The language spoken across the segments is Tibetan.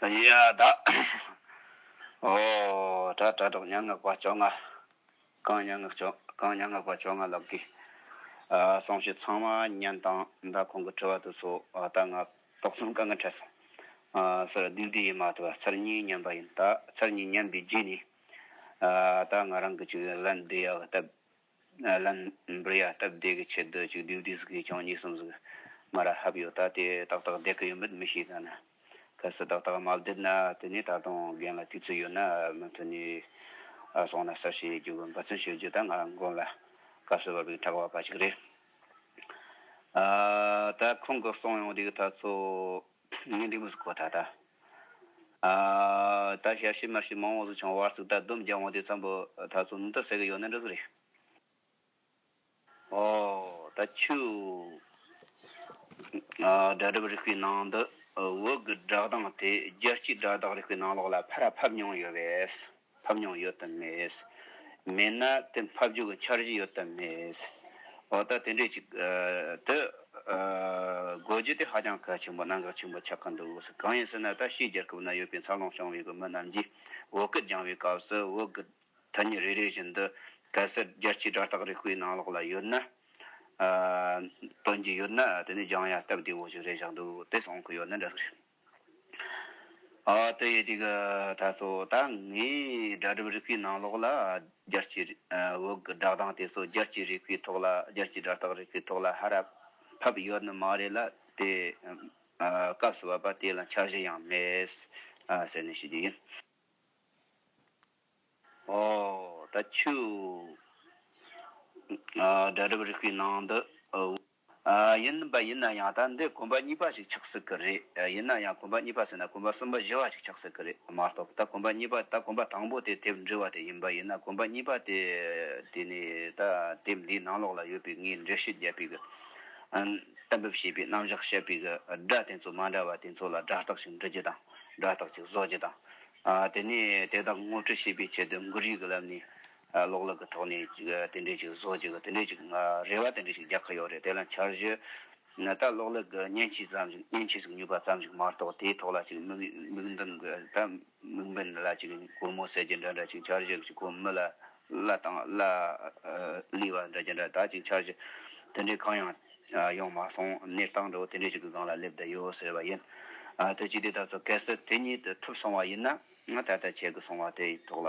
ཡ་བདག། ཧོ། དྲག་དྲག་དྲག་མྱ་ངན་པ་བཅོ་ལྔ། གང་མྱ་ངན་བཅོ་གང་མྱ་ངན་པ་བཅོ་ལྔ་ལགས་ཀྱི། གསང་ཕྱི་ཚང་མ་བསྙེན་དང་མདའ་ཁོང་གི་ཁྲི་བ་དུ་སོ་ད་ང་ཏོག་ཙམ་དཀའ་ངལ་འཕྲད་སོང། སོར་སྡིག་སྡིག་ཡིན་མ་ཐུབ་བ་ཚར་གཉིས་བསྙེན་པ་ཡིན་ད་ཚར་གཉིས་བསྙེན་པའི་རྗེས་ནས། ད་ང་རང་གི་ཅིག་ལན་བསྡུ་ཡ་བ་སྟབས། ལན། འབུར་ཡ་སྟབས་བདེ་གི་ཆེད་དུ་གཅིག་བསྡུས་བསྡུས་གིས་ཀྱང་གཉིས་གསུམ་ཟིག་མ་ར་ཧབ་ཡོད་ད་དེ་ཏག་ཏག་བསྡད་གི་ཡོད་མེད་མི་ཤེས་ད་ནི། གལ་སྲིད་ཏག་ཏག་མ་བསྡད་ན་དེ་ནས་ད་དུང་རྒན་ལ་དུས་ཚོད་ཡོད་ན་མི་མཐུན་ནས་སོང་ན་གསར་བཤད་རྒྱུ་འབད་བརྩོན་བྱེད་རྒྱུ་ད་ང་མགོན་ལ་སྐབས་སུ་བབས་པའི་གྲགས་པ་པ་ཞིག་རེད། ད་ཁོང་གི་གསུང་ཡོང་རིགས་ད་ཚོ། ངན་འགྲིག་མུས་སུ་གོ་ད་ད། ད་ཞལ་ཤི་མར་ཤི་མང་བོ་སུ་ཆང་བར་ཚུགས་ད་སྡོམ་རྒྱག་འོང་དུས་ཚང་པོ་ད་ཚོ་ནུབ་ད་ཟེར་གི་ཡོག་ནི་འདྲ་ཚོ་རེད། ཨོ། ད་ཆུ། སྒྲ་སྒྲོག་རིག་པའི་ནང་དུ་འོག་གི་སྒྲགས་སྟངས་དེ་རྒྱལ་སྤྱིའི་སྒྲགས་སྟངས་རིག་པའི་ནང་ལོགས་ལ་ཕར་ཕབ་མྱོང་ཡོད་པས། ཕབ་མྱོང་ཡོད་དམ་མེད། མེད་ན་དེ་ཕབ་རྒྱུ་གི་འཆར་གཞི་ཡོད་དམ་མེད། འོ་ད་དེ་འདྲས་ཅིག་དུ་དགོས་རྒྱུ་དེ་ཧ་ཅང་གལ་ཆེན་པོ་གནད་འགག་ཆེན་པོ་ཆགས་ཀྱི་འདུག་གང་ཡིན་ཟེར་ན་ད་ཕྱིའི་རྒྱལ་ཁབ་ན་ཡོད་པའི་འཚར་ལོངས་བྱུང་བའི་མི་རྣམས་ཀྱིས་འོ་སྐད་སྦྱང་བའི་སྐབས་སུ་འོ་སྐད་ཐ་སྙད་རེ་རེ་བཞིན་དུ་གལ་སྲིད་རྒྱལ་སྤྱིའི་སྒྲ་རྟགས་རིག་པའི་ནང་ལོགས་ལ་ཡོད་ན། སྟོན་གྱི་ཡོད་ན་དེ་ནས་སྦྱང་ཡ་སྟབས་བདེ་བོ་ཞིག་རེད་བཞག་འདུག་དེ་སོང་གི་ཡོད་ན་འདྲ་ཟིག་རེད། ཏི་ཡེ་ཏི་གི་ད་གསོ་ད་ངའི་སྒྲ་སྒྲུབ་རིག་པའི་ནང་ལོགས་ལ་རྒྱལ་སྤྱིའི་བོད་གི་སྒྲགས་གདངས་དེ་ཚོ་རྒྱལ་སྤྱིའི་རིག་པའི་ཐོག་ལ་རྒྱལ་སྤྱིའི་སྒྲ་རྟགས་རིག་པའི་ཐོག་ལ་ཧ་ར་ཕབ་ཡོད་ནི་མ་རེད་ལ་དེ་སྐབས་སུ་བབ་པ་དེ་ལ་འཆར་གཞི་ཡང་མེད། ཟེར་ནས་ཤི་རྒྱུ་ཡིན། ད་ཆུའི་སྒྲ་སྒྲུབ་རིག་པའི་ནང་དུ། ཡིན་པ་ཡིན་ན་ཡང་ད་འདི་དགོན་པ་གཉིས་པ་ཞིག་ཆགས་སྲིད་ཀྱི་རེད། ཡིན་ན་ཡང་དགོན་པ་གཉིས་པ་ཟེར་ན་དགོན་པ་གསུམ་པ་བཞི་བ་ཞིག་ཆགས་སྲིད་ཀྱི་རེད་མ་གཏོགས་ད་དགོན་པ་གཉིས་པ་ད་དགོན་པ་དང་པོ་དེ་དེབ་འབྲི་བ་དེ་ཡིན་པ་ཡིན་ན་དགོན་པ་གཉིས་པ་དེ་དེ་ནི་ད་དེབ་འདིའི་ནང་ལོགས་ལ་ཡོད་པའི་ངས་འགྲེལ་བཤད་བརྒྱབ་པའི་གཏན་འབེབས་བྱས་པའི་རྣམ་གཞག་བཤད་པའི་སྒྲ་དེ་ཚོ་མ་འདྲ་བ་དེ་ཚོ་ལ་སྒྲ་རྟགས་ཤིག་འབྲི་རྒྱུ་དང་སྒྲ་རྟགས་ཅིག་བཟོ་རྒྱུ་དང། དེ་ནས་དེ་དག་ངོ་སྤྲོད་བྱེད་པའི་ཆེད་དུ་འགུལ་རིས་ཀྱི་ལམ་ནས་གློག་ཀླད་ཀྱི་ཐོག་ནས་དེ་འདྲའི་ཞིག་བཟོ་ཅིག་དེ་འདྲའི་ཞིག་རེ་བ་དེ་འདྲའི་ཞིག་རྒྱག་གི་ཡོད་རེད་དེ་ལ་འཆར་གཞི་ནི་ད་གློག་ཀླད་ཀྱི་བརྙན་ཆས་ཙམ་ཞིག་བརྙན་ཆས་ཞིག་ཉོས་པ་ཙམ་ཞིག་མ་གཏོགས་དེའི་ཐོག་ལ་ཅིག་མིག་འདོན་དགོས་ད་མིག་འབེན་ལ་ཅིག་གོར་མོ་ཟེར་གྱི་འདྲ་འདྲ་ཅིག་འཆར་གཞི་ཞིག་ཁོ་མི་ལ་ལ་དང་ལ་ལི་བ་འདྲ་གྱི་འདྲ་ད་ཅིག་འཆར་གཞི་དེ་འདྲའི་གང་ཡང་ཡོང་མ་སོང་གནས་སྟངས་འདྲ་བོ་དེ་འདྲའི་ཞིག་གི་སྒང་ལ་སླེབས་བསྡད་ཡོད་ཟེར་བ་ཡིན། དེ་ཅི་སྟེ་ད་གཟོད་གལ་སྲིད་དེ་ཉིད་དུ་ཐུབ་སོང་བ་ཡིན་ན་ད་ལྟ་བྱེད་དགོས་སོང་བ་དེའི་ཐོག་ལ་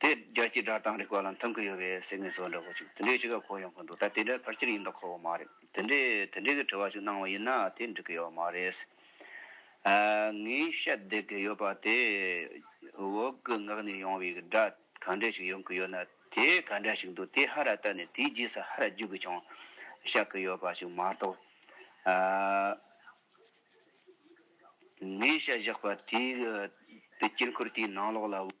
དེ་རྒྱ་སྤྱིའི་སྒྲ་གདངས་རིག་པ་ལ་འཐམ་གི་ཡོད་པའི་སེམས་ངལ་སོགས་འདྲ་བོ་ཅིག་དེ་འདྲའི་ཅི་ག་གོ་ཡོང་གི་འདུག་ད་དེ་འདྲ་ཕར་ཆེར་ཡིན་དང་ཁོ་བོ་མ་རེད། དེ་འདྲའི་དེ་འདྲའི་གི་དྲི་བ་ཞིག་གནང་བ་ཡིན་ན་དེ་འགྲིག་གི་ཡོད་མ་རེད། ངས་བཤད་བསྡད་ཀི་ཡོད་པ་དེ་འོག་གི་ངག་ནས་ཡོང་བའི་སྒྲ་ག་འདྲ་ཞིག་ཡོང་གི་ཡོད་ན་དེ་ག་འདྲ་ཞིག་འདུག་དེ་ཧ་ར་བལྟ་ནས་དེའི་རྗེས་སུ་ཧ་ར་བརྗོད་གི་བྱུང། བཤད་གི་ཡོད་པ་ཞིག་མ་གཏོགས། ངས་བཤད་བཞག་པ་དེའི་དཀྱིལ་འཁོར་དེའི་ནང་ལོགས་ལ།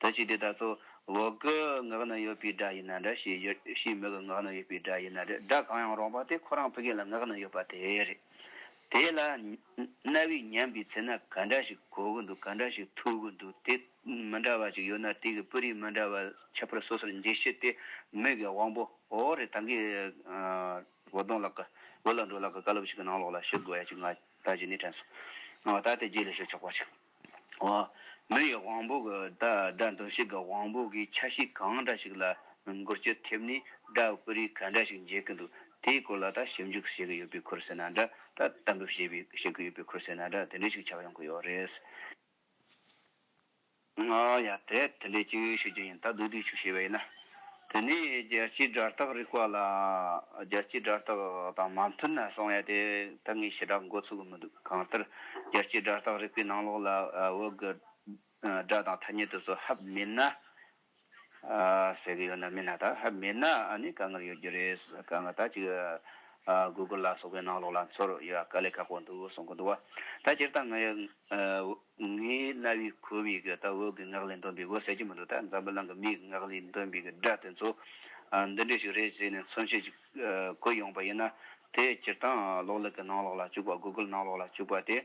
ད་ཅི་དེ་ད་ཚོ་འོག་གི་ངག་ན་ཡོད་པའི་སྒྲ་ཡིན་ན་འདྲ་ཞེས་བརྗོད་ཕྱིའི་མིག་གི་ངག་ན་ཡོད་པའི་སྒྲ་ཡིན་ན་འདྲ་སྒྲ་གང་ཡང་རུང་བ་དེ་ཁོ་རང་ཕི་གེ་ལ་ངག་ན་ཡོད་པ་དེ་རེད། དེ་ལ། རྣ་བས་ཉན་པའི་ཚེ་ན་ག་འདྲ་ཞིག་གོ་གི་འདུག་ག་འདྲ་ཞིག་ཐོས་གི་འདུག་དེ་མི་འདྲ་བ་ཅིག་ཡོད་ན་དེ་གི་སྤུ་རིས་མི་འདྲ་བ་ཁྱད་པར་སོ་སོར་འབྱེད་ཤེས་དེ་མིག་གི་དབང་པོ་འོ་རེད་ད་གིན། འོ་དོང་ལགས། འོ་ལ་འགྲོ་ལགས་བཀའ་སློབ་ཞིག་གི་ནང་ལོགས་ལ་ཞུ་དགོས་ཡ་ཅིག་ང་ད་ཇི་ནས་དྲན་སོང། ད་དེ་རྗེས་ལས་ཞུ་ཆོག་པ་ཞིག། བ། མི་ཡི་དབང་པོ་གི་སྒྲ་འདོན་བྱེད་ཀྱི་དབང་པོ་གི་ཆ་ཤས་གང་འདྲ་ཞིག་ལ་མགུར་སྤྱི་ཐེབས་ནས་སྒྲ་སྐུད་རིགས་ག་འདྲ་ཞིག་འབྱེད་ཀྱི་འདུག་དེའི་སྐོར་ལ་ད་ཞིབ་འཇུག་བྱེད་ཀྱི་ཡོད་པའི་ཁུར་བསེ་ན་འདྲ་ད་གཏམ་འབེབས་བྱེད་པའི་བྱེད་ཀྱི་ཡོད་པའི་ཁུར་བསེ་ན་འདྲ་དེ་འདྲ་ཞིག་ཆགས་ཡོང་གི་ཡོད་རེད། ང་ཡང་དེ་འདྲ་ཅིག་ཤོད་ཀྱི་ཡིན་ད་སྡུག་སྡུག་ཅིག་བྱས་པ་ཡིན་ན། དེ་ནས་རྒྱལ་སྤྱིའི་སྒྲ་རྟགས་རིག་པ་ལ་རྒྱལ་སྤྱིའི་སྒྲ་རྟགས་དང་མ་མཐུན་ན་གསང་བའི་དེ་ད་ངས་ཞེ་དྲག་འགོ་ཚུགས་ཀྱི་མི་འདུག་གང་ལྟར་རྒྱལ་སྤྱིའི་སྒྲ་རྟགས་རིག་པའི་ནང་ལོགས་ལ་འོད་གི་སྒྲ་དང་ཐ་སྙད་དུ་སོ་ཧབ་མེད་ན། ཟེར་གི་ཡོད་ན་མེད་ན་དག་ཧབ་མེད་ན་ནི་དཀའ་ངལ་ཡོད་རྒྱུ་རེད་དཀའ་ངལ་དག་ཅིག Google ལ་སོགས་པའི་ནང་ལོགས་ལ་འཚོལ་ཡོད་ཀ་ལས་ཁག་པོ་འདུག་གསུང་གི་འདུག་བ་ད་སྤྱིར་བཏང་ངས་ངའི་རྣ་བའི་ཁོར་ཡུག་གི་ལྟ་འོག་གི་ངག་ལས་འདོན་པའི་འོད་གསལ་གྱི་མི་འདུག་ད་འཛམ་བུ་གླིང་གི་མིའི་ངག་ལས་འདོན་པའི་སྒྲ་དེ་ཚོ་འདི་འདྲས་ཤིག་རེད་ཟེར་ནས་མཚོན་བྱེད་ཅིག་བཀོད་ཡོང་པ་ཡིན་ན་དེ་སྤྱིར་བཏང་གློག་ཀླད་ཀྱི་ནང་ལོགས་ལ་བཅུག་པ Google ནང་ལོགས་ལ་བཅུག་པ་དེ་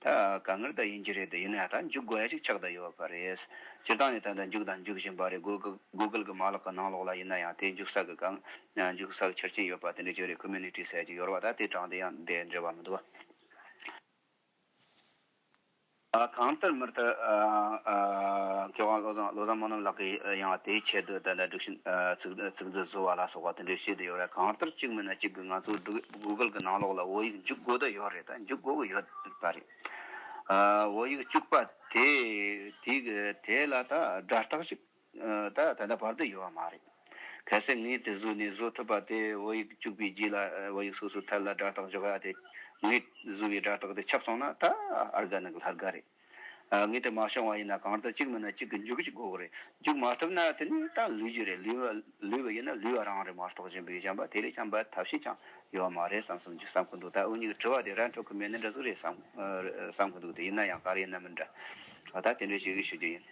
ད་ག་ངར་ད་ཡིན་གྱི་རེད་ད་ཡིན་ན་ད་འཇུག་དགོས་ཡ་ཅིག་ཆགས་ད་ཡོད་པ་རེད། སྤྱིར་བཏང་ནས་ད་ད་འཇུག་ད་འཇུག་བཞིན་པ་རེད Google གི་མ་ལག་གི་ནང་ལོགས་ལ་ཡིན་ན་ཡང་དེ་འཇུག་ས་གི་གང་འཇུག་ས་གི་ཆ་རྐྱེན་ཡོད་པ་དེ་འདྲས་ཅིག་རེད Community ཟེར་གྱི་ཡོར་བ་ད་དེ་དྲངས་དེ་ཡང་དེ་འདྲས་བ་མི་འདུག། གང་ལྟར་མི་ལྟར་སྐལ་བཟང་བློ་བཟང་བཟང་མོ་རྣམས་ལགས་ཀྱི་ཡང་དེའི་ཆེད་དུ་དེ་འདྲ་སྒྲིག་བཞིན་ཚིག་མཛོད་བཟོ་བ་ལ་སོགས་པ་དེ་འདྲའི་བྱེད་དུ་ཡོད་རེད་གང་ལྟར་གཅིག་མིན་ན་གཅིག་གིས་ང་ཚོ Google གི་ནང་ལོགས་ལ་བོད་ཡིག་འཇུག་དགོས་དོན་ཡོད་རེད་དཱ་འཇུག་དགོས་ཀྱི་ཡོད་པ་རེད་བོད་ཡིག་བཅུག་པ་དེས་དེ་ལ་དཱ་སྒྲ་རྟགས་ཤིག་ད་ད་ལྟ་བར་དུ་ཡོད་པ་མ་རེད། གལ་སྲིད་ངས་དེ་བཟོས་ནས་བཟོ་ཐུབ་པ་དེ་བོད་ཡིག་བཅུག་པའི་རྗེས་ལ་བོད་ཡིག་སོ་སོའི་ཐད་ལ་སྒྲ་རྟགས་འཇོག་ཡ་དེ། ངས་བཟོས་པའི་སྒྲ་རྟགས་དེ་ཆགས་སོང་ན་ད་ཨར་དགའ་ནི་ལྷར་དགའ་རེད། ངས་དེ་མ་བྱུང་བ་ཡིན་ན་གང་ལྟར་གཅིག་མིན་ན་གཅིག་གི་འཇུག་གི་འགོག་རེད། འཇུག་མ་ཐུབ་ན་དེ་ནི་ད་ལུས་ཀྱི་རེད་ལུས་པ་ཡིན་ན་ལུས་པ་རང་རེད་མ་རྟོགས་ཅན་བོད་ཡིག་སྦྱངས་པ་དེ་ལས་ཀྱང་འབའ་ཐབས་ཤིག་ཀྱང་ཡོད་པ་མ་རེད་བསམ་བསམ་གྱི་བསམ་གྱི་འདུག་ད་འུ་གཉིས་ཀྱི་དྲི་བ་དེ་ར་འཕྲོད་ཀྱི་མེད་ནི་འདྲ་ཟུག་རེད་བསམ་གྱི་འདུག་དེ་ཡིན་ན་ཡང་ག་རེ་ཡིན་ནམ་མིན་འདྲ། ད་དེ་འདྲ་ཞིག་ཞུ་རྒྱུ་ཡིན།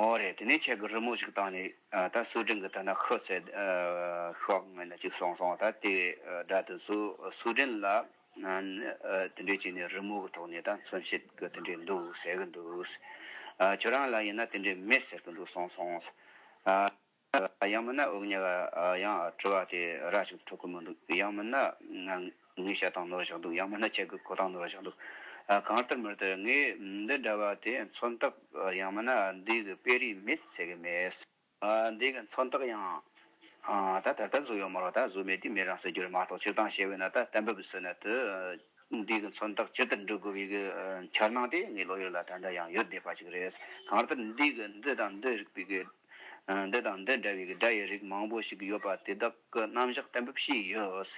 ཨོ་རེད་དེ་ནས་ཁྱེད་ཀྱི་རི་མོ་ཞིག་བཏང་ནས་ད་སུའུ་ཀྲེན་གྱི་ཐད་ན་ཤི་ཚད་ཤོག་ངོས་ནས་ཅིག་གསུངས་སོང་ད་དེ་སྒྲ་དེ་ཚོ་སུའུ་ཀྲེན་ལ་དེ་འདྲས་བྱས་ནས་རི་མོ་གི་ཐོག་ནས་ད་མཚོན་བྱེད་ཀྱི་དེ་འདྲས་འདུག་ཟེར་གྱི་འདུག་ཁྱོད་རང་ལ་ཡིན་ན་དེ་འདྲས་མེད་ཟེར་གྱི་འདུག་གསུངས་སོང། ཡང་མིན་ན་དབུགས་ཉལ་བ་ཡང་བྲོ་བ་དེ་ར་ཞིག་ཏུ་འཕྲོ་གི་མི་འདུག་ཡང་མིན་ན་ངའི་ཞལ་ཐང་ནོར་བཞག་འདུག་ཡང་མིན་ན་ཁྱེད་ཀྱི་གོ་ཐང་ནོར་བཞག་འདུག་གང་ལྟར་མི་སྟེར་ངས་འདི་འདྲ་བ་དེ་མཚོན་རྟགས་ཡང་མིན་ན་འདི་གི་དཔེ་རིས་མེད་ཟེར་གི་མེད། འདི་གི་མཚོན་རྟགས་ཡང་ད་ད་ལྟ་བཟོ་ཡོད་མ་རོགས་ད་བཟོ་མེད་དུས་མེད་རང་ཟེར་རྒྱུ་རེད་མ་གཏོགས་སྤྱིར་བཏང་བཤད་འོས་ན་ད་གཏན་འབེབས་བཟོས་ན་དེ་འདི་གི་མཚོན་རྟགས་ཇི་ལྟར་འབྲི་དགོས་པའི་གི་འཆར་སྣང་དེ་ངའི་བློ་ཡུལ་ལ་ད་ལྟ་ཡང་ཡོད་བསྡད་པ་ཞིག་རེད། གང་ལྟར་འདི་གི་འདི་དང་འདི་རིགས་པའི་གི། འདི་དང་འདི་འདྲ་བའི་སྒྲ་ཡི་རིགས་མང་པོ་ཞིག་ཡོད་པ་དེ་དག་གི་རྣམ་གཞག་གཏན་འབེབས་བྱས་ཡོད།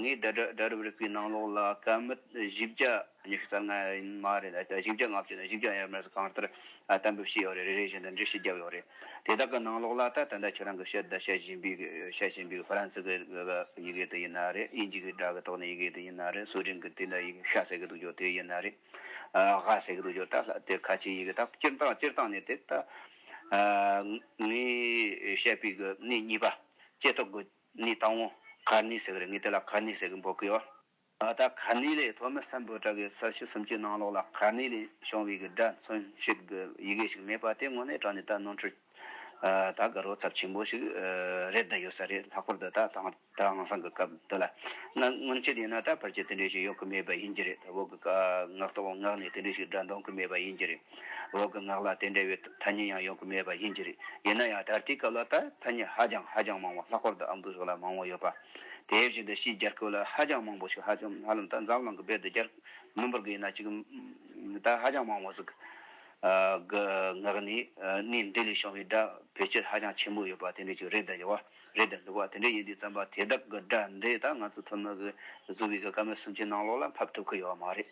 ངས་དེ་འདྲ་སྒྲ་རབ་རིག་པའི་ནང་ལོགས་ལ་སྐད་མི་བཞི་བརྒྱ་ཉི་ཤུ་རྩ་ལྔ་ཡིན་མ་རེད་ད་བཞི་བརྒྱ་ལྔ་བཅུ་ནས་བཞི་བརྒྱ་ཡར་མར་སོགས་གང་ལྟར་གཏན་འབེབས་བྱས་ཡོད་རེད་རེ་རེ་བཞིན་དུ་འགྲེལ་བཤད་བརྒྱབ་ཡོད་རེད། དེ་དག་གི་ནང་ལོགས་ལ་ད་དེ་འདྲ་ཁྱེད་རང་གི་བཤད་བདག་བཤད་བཞིན་པའི་བཤད་བཞིན་པའི་ཧྥ་རན་སི་གི་ཡི་གེ་དེ་ཡིན་ན་རེད་དབྱིན་ཇིའི་སྒྲ་གི་ཐོག་ནས་ཡི་གེ་དེ་ཡིན་ན་རེད་སུའུ་ཀྲིན་གི་དེ་འདྲ་ཡི་གེ་ཤ་ཟེར་གི་འདུག་ཅོ་དེ་ཡིན་ན་རེད། ཧ་ཟེགས་རུ་ཡོད་ད་ལ་དེ་ཁ་ཆེ་ཡི་གི་ད་སྤྱིར་བཏང་སྤྱིར་བཏང་ནི་དེ་ད་ངས་བཤད་པའི་གི་ནི་གཉིས་པ་ལྕེ་ཐོག་གི་ནི་དང་བོ་ག་ནི་ཟེགས་རེད་ངས་དེ་ལ་ག་ནི་ཟེགས་འབོད་གི་ཡོད། ད་ག་ནི་ལས་ཐོག་མི་སམ་བོད་དྲ་གི་ས་བྱི་སུམ་ཅུའི་ནང་ལོགས་ལ་ག་ནི་ལས་བྱུང་བའི་གི་སྒྲ་མཚོན་བྱེད་གི་ཡི་གེ་ཞིག་མེད་པ་དེ་དངོས་གནས་དྲང་ནི་ད་ནོར་འཁྲུལ། ད་དགའ་རོགས་ཚབས་ཆེན་པོ་ཞིག་རེད་ད་ཡོད་ས་རེད་ལྷག་པར་དུ་ད་དྭངས་སང་གི་སྐབས་འདི་ལ་ན་སྔོན་ཆད་ཡིན་ན་ད་བར་ཆད་དེ་འདྲས་ཞིག་ཡོག་གི་མེད་པ་ཡིན་གྱི་རེད་འོག་གི་ངག་ཏུ་ངག་ནས་དེ་འདྲས་ཞིག་སྒྲ་འདོང་གི་མེད་པ་ཡིན་གྱི་རེད་འོག་གི་ངག་ལ་དེ་འདྲ་བའི་ཐ་སྙད་ཡང་ཡོག་གི་མེད་པ་ཡིན་གྱི་རེད་ཡིན་ན་ཡང་ད་ལྟའི་སྐབས་ལ་ད་ཐ་སྙད་ཧ་ཅང་ཧ་ཅང་མང་བ་ལྷག་པར་དུ་ཨམ་བུ་སོགས་ལ་མང་བོ་ཡོད་པ་དེའི་བཞིན་དུ་ཕྱིའི་རྒྱར་ཁོ་ལ་ཧ་ཅང་མང་བོ་ཞིག་ཧ་ལམ་ད་འཛམ་གླང་གི་བེད་དུ་རྒྱར་མི་འབོར་གི་ཡིན་ན་ཅིག་ད་ཧ་ཅང་མང་བོ་ཟིག། ངག་ནི་སྣའི་མདུན་ལས་བྱུང་བའི་སྒྲ་བེད་སྤྱོད་ཧ་ཅང་ཆེན་པོ་ཡོད་པ་དེ་འདྲས་ཀྱི་རེད་དཱ་ཡོད་བ་རེད་དཱ་འདུག་བ་དེ་འདྲས་ཡིན་དུས་རྩམ་པ་དེ་དག་གི་སྒྲ་འདི་དག་ང་ཚོ་ཐུར་མ་གི་གཟུགས་བེད་ཀྱི་སྐར་མ་སུམ་ཅུའི་ནང་ལོགས་ལ་ཕབ་ཐུབ་ཀྱི་ཡོད་བ་མ་རེད་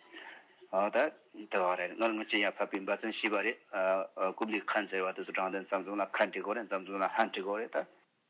དཱ། དེ་བ་རེད་ངར་ངར་ཅི་ཡང་ཕབ་པའི་འབའ་རྩོན་ཤེས་པ་རེད། ཀུབ་ལིས་ཁཱན་ཟེར་བ་དེ་ཚོ་དྲང་བདེན་རྩམ་རྩོམ་ལ་ཁ་འབྲི་དགོས་རེད་རྩམ་རྩོམ་ལ་ཧ་འབྲི་དགོས་རེད་དཱ།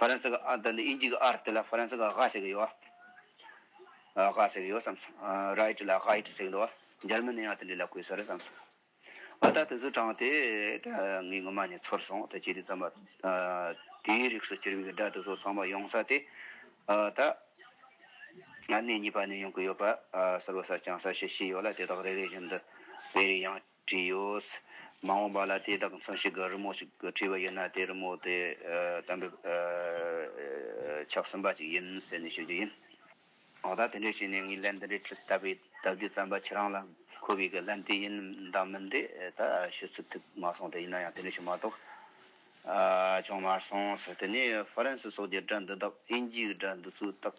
ཧྥ་རན་སི་གི་ཨ་དང་ཨིན་ཇི་གི་ཨར་དེ་ལ་ཧྥ་རན་སི་གི་དབྱ་ཟེར་གི་ཡོད་ཨ། དབྱ་ཟེར་གི་ཡོད་བསམ་སོང། Right ལ Gheit ཟེར་གི་འདུག་ཨ། འཇར་མན་ནི་ཡང་དེ་འདྲ་ལ་གོ་ས་རེད་བསམ་སོང། ཨ་ད་དེ་ཚོའི་གྲངས་དེ་ད་ངའི་སྔོན་མ་ནས་ཚོར་སོང་ད་ཇི་དེ་ཙམ་པ། དེའི་རིགས་སུ་གྱུར་པའི་སྒྲ་དེ་ཚོ་ཚང་མ་ཡོང་ས་དེ་ད། གནས་གཉིས་པ་ནས་ཡོང་གི་ཡོད་པ། གསར་བ་གསར་རྐྱང་གསར་བཤད་བྱས་ཡོད་ལ་དེ་དག་རེ་རེ་བཞིན་དུ་བེ་རི་ཡང། དྲིོས། མ་འོངས་པ་ལ་དེ་དག་མཚོན་བྱེད་ཀྱི་རི་མོ་ཞིག་བྲིས་པ་ཡོད་ན་དེ་རི་མོ་དེ་དམ་པའི་ཕྱག་ཟིན་པ་ཅིག་ཡིན་ཟེར་ནས་ཤོད་རྒྱུ་ཡིན། འོ་ད་དེ་འདྲས་བྱས་ནས་ངའི་ལན་འདི་འདྲས་ཁྲིད་ད་པའི་སྟབས་བདེ་བརྩམས་པ་ཁྱེད་རང་ལ་མཁོ་བའི་གི་ལན་དེ་ཡིན་འདང་མིན་དེ་ད་ཤོད་ཚུད་ཐུབ་མ་སོང་དེ་ཡིན་ན་ཡང་དེ་འདྲས་བྱུང་མ་གཏོགས་ཅུང་མར་སོང་ཟེར་དེ་ནས་ཧྥ་རན་སི་སོགས་ཀྱི་སྒྲ་འདི་དག་ཨིན་ཇིའི་སྒྲ་འདི་ཚོའི་རྟགས།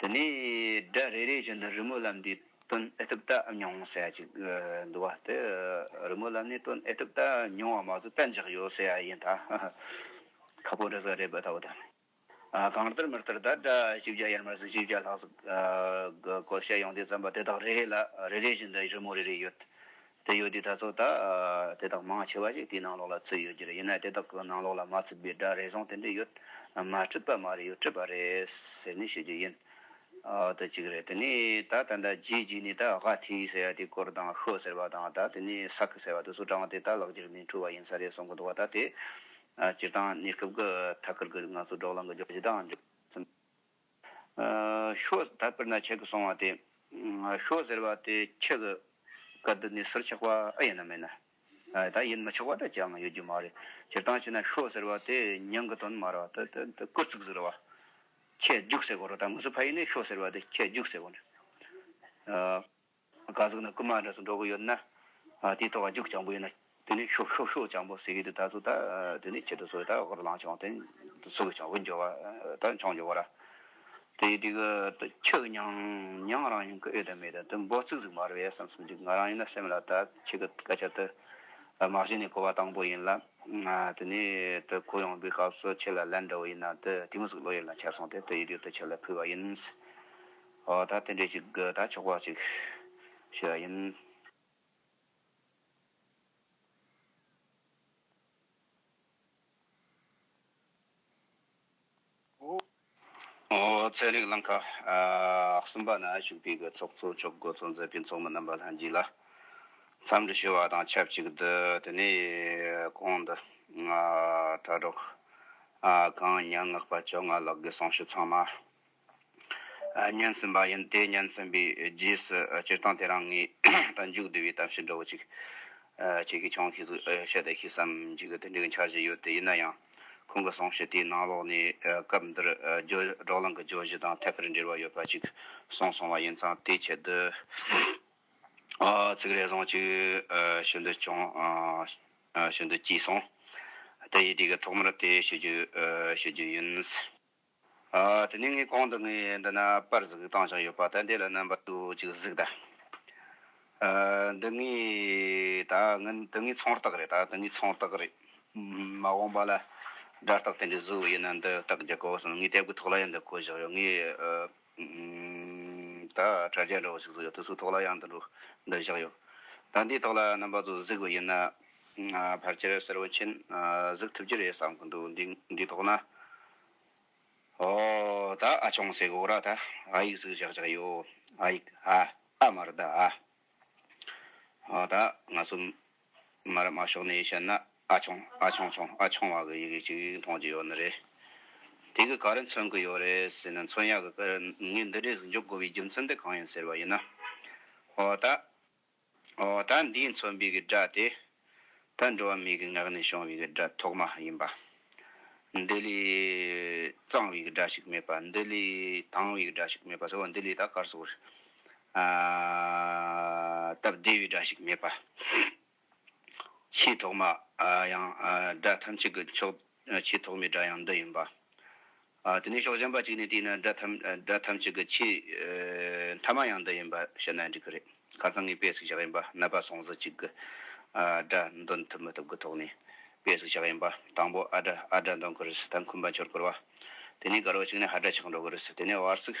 དེ་ནས་སྒྲ་རེ་རེ་བཞིན་དུ་རི་མོ་ལམ་འདིའི་དོན་ཨེ་ཐུབ་བལྟ་མྱོང་ཟེར་ཡ་ཅིག་འདུག་བ་དེ་རི་མོ་ལམ་ནས་དོན་ཨེ་ཐུབ་བལྟ་མྱོང་བ་མ་གཏོགས་བལྟ་འཇགས་ཡོད་ཟེར་ཡ་ཡིན་ད། ཁ་པོ་འདྲ་ས་རེད་བལྟ་བ་དང། གང་ལྟར་མི་ལྟར་ད་སྒྲ་བཞི་བརྒྱ་ཡར་མར་ཟིན་བཞི་བརྒྱ་ལྷག་གི་བཀོལ་བཤད་ཡོང་དུས་བརྩམས་པ་དེ་དག་རེ་རེ་ལ་རེ་རེ་བཞིན་དུ་རི་མོ་རེ་རེ་ཡོད། དེ་ཡོད་དུས་དར་ཚོགས་དག་དེ་དག་མང་ཆེ་བ་ཞིག་དེའི་ནང་ལོགས་ལ་ཚུད་ཡོད་རྒྱུ་རེད་ཡིན་ནའི་དེ་དག་གི་ནང་ལོགས་ལ་མ་ཚུད་པའི་སྒྲ་རེ་ཟུང་དེ་འདྲས་ཡོད་མ་སྤྲུལ་པ་མ་རེད་ཡོད་སྤྲུལ་པ་རེད་ཟེར་ནས་ཤོད་རྒྱུ་ཡིན་དུ་གཅིག་རེད་དེ་ནས་ད་ད་ལྟ་རྗེས་རྗེས་ནས་ད་ག་ཐི་ཟེར་བ་དེའི་སྐོར་དང་ཤོ་ཟེར་བ་དང་ད་དེ་ནས་ས་ཁི་ཟེར་བ་དེ་ཚོ་བགྲང་བ་དེ་ད་ལག་འགྱུར་མིན་འཁྲུལ་བ་ཡིན་ས་རེད་གསུང་གི་འདུག་བ་ད་དེ་སྤྱིར་བཏང་གནས་སྐབས་ཀི་ཐ་ཁུར་གི་ང་ཚོ་འབྲོག་ལང་གི་རྗོགས་བྱེད་དང་འཇོག་སེམས། ཤོ། ད་དཔེར་ན་ཆེ་གི་སོང་བ་དེ། ཤོ་ཟེར་བ་དེ་ཆེ་གི། ག་དུ་ནི་སུར་ཆགས་པ་ཨེ་ཡིན་ནམ་མེད་ན། ད་ཡིན་མི་ཆོག་པ་དེ་ཅང་ཡོད་རྒྱུ་མ་རེད། སྤྱིར་བཏང་བྱས་ན་ཤོ་ཟེར་བ་དེ་མྱང་གི་དོན་མ་རེད། སྐུར་ཚིག་ཟེར་བ། ཁྱད་རྒྱུགས་ཟེར་དགོས་རོགས་ད་ངོས་སུ་ཕ་ཡིན་ནས་ཤོ་ཟེར་བ་དེ་ཁྱད་རྒྱུགས་ཟེར་དགོས། བཀའ་ཟུར་ན་རྐུན་མ་འདྲ་སུ་འགྲོ་གི་ཡོད་ན། དེ་ཐོག་ཁ་རྒྱུག་སྤྱང་པོ་ཡིན་ན། དེ་ནས་ཤོག་ཤོག་ཤོག་སྤྱང་པོ་ཟེར་གི་འདུག་ད་གཟུགས་ད་དེ་ནས་ཁྱེད་ཚོ་སུ་ཡིན་ད་ཨོ་རོ་ལངས་བྱུང་དེ་སུ་གི་ཆང་བུ་འཇོ་བ་ད་ཆང་འཇོ་བ་ར། དེ་དེ་གི་ཁྱོད་ཀྱི་ཉང་ཉང་རང་ཡིན་གི་ཨེ་དང་མེད་དང་དེ་འབོག་ཚིག་ཟིག་མ་རེད་བས་བསམ་བསམ་ཅིག་ང་རང་ཡིན་ན་སེམས་ལ་ད་ཁྱེད་ཀྱི་སྐད་ཆ་དེ་མ་གཞི་ནས་གོ་བ་དང་པོ་ཡིན་ལ། དེ་ནས་དེ་གོ་ཡོང་པའི་སྐབས་སུ་ཁྱེད་ལ་ལན་འདྲ་བོ་ཡིན་ན་དེ་དེ་མོ་ཟིག་བློ་ཡུལ་ལ་འཁྱེར་སོང་དེ་དེ་ཡིད་ཡུལ་དུ་ཁྱེད་ལ་ཕུལ་བ་ཡིན། ཨོ་ད་དེ་འདྲའི་ཞིག་དགོས་ད་ཆོག་པ་ཞིག་ཞུས་པ་ཡིན། ཚན་རིག་བླང་ཁ་གསུམ་པ་ན་ཞུགས་པའི་དགོས་ཚོགས་ཚོགས་མཆོག་འགོ་གཙོ་མཛད་པའི་ཚོགས་མི་རྣམ་པ་ལྷན་རྒྱས་ལ་འཚམས་འདྲི་ཞུ་བ་དང་ཆབས་ཅིག་ཏུ་དེ་ནས་གོང་དུ་དྲ་གྲོགས་གངས་ཉག་ངག་པ་བཅོ་ལྔ་ལགས་ཀྱི་གསུང་ཞུ་ཚང་མ། སྙན་གསུངས་པ་ཡིན། དེ་སྙན་གསུངས་པའི་རྗེས་སུ་སྤྱིར་བཏང་དེ་རང་ངའི་ད་མཇུག་བསྡུ་བའི་གཏམ་བཤད་འདྲ་བོ་ཅིག་བྱེད་ཀྱི་བྱུང་ཤེས་བཤད་དེ་ཤེས་སམ་འཇིག་གི་དོན་འགྲིག་འཆར་གཞི་ཡོད་དེ་ཡིན་ན་ཡང་ཁོང་གི་གསུང་བཤད་དེའི་ནང་ལོགས་ནས་སྐབས་འདིར་སྒྲོག་ལམ་གྱི་བརྗོད་གཞི་དང་ཐད་ཀར་འབྲེལ་བ་ཡོད་པ་ཅིག་གསུངས་སོང་བ་ཡིན་ཙང་དེའི་ཆེད་དུ་ཚིག་རེ་ཟུང་ཅིག་ཞུ་འདོད་བྱུང། ཞུ་འདོད་སྐྱེས་སོང། དེ་ཡི་དུས་ཀྱི་ཐོག་མར་དེ་ཞུ་རྒྱུ་ཞུ་རྒྱུ་ཡིན། དེ་ནས་ངའི་གོང་དུ་ངའི་འདི་ན་པར་ཟིག་བཏང་བཞག་ཡོད་པ་དང་དེ་ལ་རྣམ་པ་དུ་ཅིག་གཟིགས་ད། འདི་ངའི་ད་འདི་ངའི་ཚོང་རྟགས་རེད་ད་འདི་ངའི་ཚོང་རྟགས་རེད། མ་འོངས་པ་ལ་སྒྲ་རྟགས་དེ་འདྲའི་བཟོ་བ་ཡིན་ན་འདི་རྟགས་རྒྱག་དགོས་བསམ་ངའི་སྟེགས་བུ་ཐོག་ལ་ཡང་འདི་བཀོད་བཞག་ཡོད་ངའི། ད་དྲ་རྒྱ་འདྲ་བོ་ཞིག་བཟོ་ཡོད་དུས་སུ་ཐོག་ལ་ཡང་འདི་འདྲུག་འདི་བཞག་ཡོད། ད་འདིའི་ཐོག་ལ་རྣམ་པ་ཚོ་གཟིགས་པ་ཡིན་ན། ཕར་ཆེར་གསལ་བོ་མཁྱེན་གཟིགས་ཐུབ་ཀྱི་རེད་བསམ་གི་འདུག་འདིའི་ཐོག་ན། ཨོ། ད་ཨ་ཆུང་ཟེར་གི་འོ་ར་ད་ཨ་ཡིག་གཟིགས་བཞག་བཞག་ཡོད་ཨ་ཡིག་ཨ། ཨ་མ་རེད་ཨ། ཨོ་ད་ང་ཚོ། མར་དམག་ཕྱོགས་ནས་བཤད་ན་ཨ་ཆུང་ཨ་ཆུང་ཆུང་ཨ་ཆུང་བ་གི་ཡི་གེ་གཅིག་མཐོང་རྒྱུ་ཡོད་ནི་རེད། དེ་གི་ག་རེ་མཚོན་གི་ཡོད་རེད་ཟེར་ན་མཚོན་ཡག་གི་ཀར་ངའི་འདི་འདྲས་སུ་འཇུག་དགོས་པའི་རྒྱུ་མཚན་དེ་གང་ཡིན་ཟེར་བ་ཡིན་ན། འོ་ད། འོ་ད་འདིའི་མཚོན་པའི་གི་སྒྲ་དེ། ད་འགྲོ་བ་མིའི་གི་ངག་ནས་བྱུང་བའི་གི་སྒྲ་ཐོག་མ་ཡིན་པ། འདི་ལས་གཙང་བའི་གི་སྒྲ་ཞིག་མེད་པ་འདི་ལས་དྭངས་བའི་གི་སྒྲ་ཞིག་མེད་པ་ཟེར་བ་འདི་ལས་ད་གར་སོགས་རེད། སྟབས་བདེ་བའི་སྒྲ་ཞིག་མེད་པ། ཆེས་ཐོག་མ་ཡང་སྒྲ་ཐམས་ཅད་ཀྱི་མཆོག་ཆེས་ཐོག་མའི་སྒྲ་ཡང་འདི་ཡིན་པ། དེ་ནས་ཕྱོགས་གཞན་པ་གཅིག་ནས་བལྟས་ན་སྒྲ་ཐམས་ཅད་ཀྱི་ཆེས་མཐའ་མ་ཡང་འདི་ཡིན་པ་བཤད་ན་འགྲིག་གི་རེད། ཁ་སང་ངས་དཔེ་ཟིག་བཞག་ཡིན་པ་ནད་པ་སོང་ཟིག་ཅིག་གི་སྒྲ་འདོན་ཐུབ་མི་ཐུབ་ཀྱི་ཐོག་ནས་དཔེ་ཟིག་བཞག་ཡིན་པ། དང་པོ་ཨ་སྒྲ་འདོན་གི་རེད། ད་འཁུམས་པ་འཆོར་གི་རེད་བ། དེ་ནས་དགར་བ་ཅིག་ནས་ཧ་སྒྲ་ཆགས་འགྲོ་གི་རེད། དེ་ནས་བར་སིག།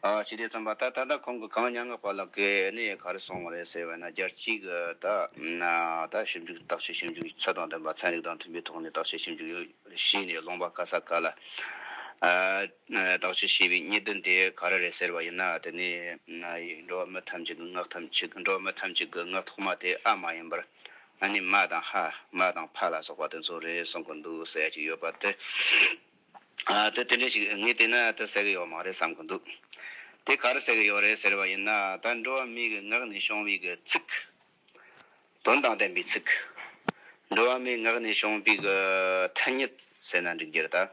ཞི་བདེ་རྩོམ་པ་ད་ད་ལྟ་ཁོང་གི་གངས་ཉག་ངག་པ་ལགས་ཀྱི་གནས་ཡོད་ག་རེ་སོང་བ་རེད་ཟེར་བས་ན་བརྒྱ་གཅིག་ད་ད་ཞིབ་འཇུག་བརྟག་དཔྱད་ཞིབ་འཇུག་ཚད་དང་ལྡན་པ་ཚན་རིག་དང་མཐུན་པའི་ཐོག་ནས་བརྟག་དཔྱད་ཞིབ་འཇུག་གཞི་ནས་སློང་པ་དཀའ་ས་དཀའ་ལ། བརྟག་དཔྱད་བྱས་པའི་རྙེད་དོན་དེ་ག་རེ་རེད་ཟེར་བ་ཡིན་ན་དེ་ནི་འགྲོ་བ་མི་ཐམས་ཅད་ཀྱི་ངག་ཐམས་ཅད་འགྲོ་བ་མི་ཐམས་ཅད་ཀྱི་ངག་ཐོག་མ་དེ་ཨ་མ་ཡིན་པར་ཨ་ནི་མ་དང་ཧ་མ་དང་ཕ་ལ་སོགས་པ་དེ་ཚོ་རེད་གསུང་གི་འདུག་ཟེར་ཡ་གཅིག་ཡོད་པ་དེ། དེ་དེ་འདྲས་ཤིག་ངས་བལྟས་ན་དེ་ཟེར་གི་ཡོད་མ་རེད་བསམ་གི་འདུག་དེ་ག་རེ་ཟེར་གི་ཡོད་རེད་ཟེར་བ་ཡིན་ན་ད་འགྲོ་བ་མི་གི་ངག་ནས་ཤོང་བའི་གི་ཚིག། དོན་དང་ལྡན་པའི་ཚིག། འགྲོ་བ་མིའི་ངག་ནས་ཤོང་པའི་གི་ཐ་སྙད་ཟེར་ན་འགྲིག་རྒྱུ་རེད་ད།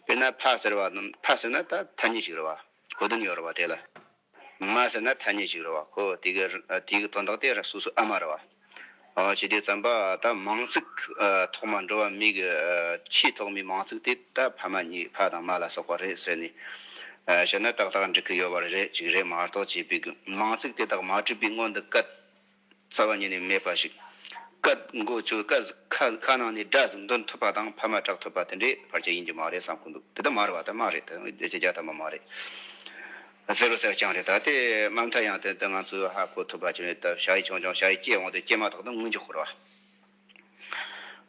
དཔེར་ན་ཕ་ཟེར་བ་ཕ་ཟེར་ན་ད་ཐ་སྙད་ཞིག་རེད་བ་གོ་དོན་ཡོད་རེད་བ་དེ་ལ། མ་ཟེར་ན་ཐ་སྙད་ཅིག་རེད་བ་ཁོ་དེ་གི་དེ་གི་དོན་དག་དེ་ར་སོ་སོ་ཨ་མ་རེད་བ། ཨོ་ཅི་དེ་ཙམ་པ་ད་མང་ཙིག་ཐོག་མ་འགྲོ་བ་མི་གི་ཆེས་ཐོག་མའི་མང་ཙིག་དེ་ད་ཕ་མ་གཉིས་ཕ་དང་མ་ལ་སོགས་པ་རེད་ཟེར་ནས་བཤད་ན་ཏག་ཏག་འགྲིག་གི་ཡོད་བ་རེད་ཅིག་རེད་མ་རྟོག་བྱས་པའི་མང་ཙིག་དེ་དག་མ་བྲིས་པའི་སྔོན་དུ་སྐད། རྩ་བ་ཉིད་ནས་མེད་པ་ཞིག། སྐད་མགོ་བཅོས་སྐད་ཁ་ཁ་ནང་ནས་སྒྲ་གཟུགས་འདོན་ཐུབ་པ་དང་ཕ་མ་གྲགས་ཐུབ་པ་དེ་འདྲའི་བར་ཆད་ཡིན་རྒྱུ་མ་རེད་བསམ་ཁོ་འདུག་དེ་ལྟ་མ་རེད་བ་དེ་མ་རེད་དེ་ཁྱེད་ཀྱི་རྒྱ་དམ་པ་མ་རེད། ཟེར་བ་གསལ་རྐྱང་རེད་ད་ལྟའི་དམའ་མཐའ་ཡང་དེ་ལྟ་ང་ཚོས་ཧ་གོ་ཐུབ་པ་ཅི་རེད་ད་ཞྭ་ཡིས་ཆོང་ཆོང་ཞྭ་ཡིས་སྐྱེས་འོང་དུས་སྐྱེས་མ་ཐག་ཏུ་དངུལ་འཇོག་ཁོ་རེད་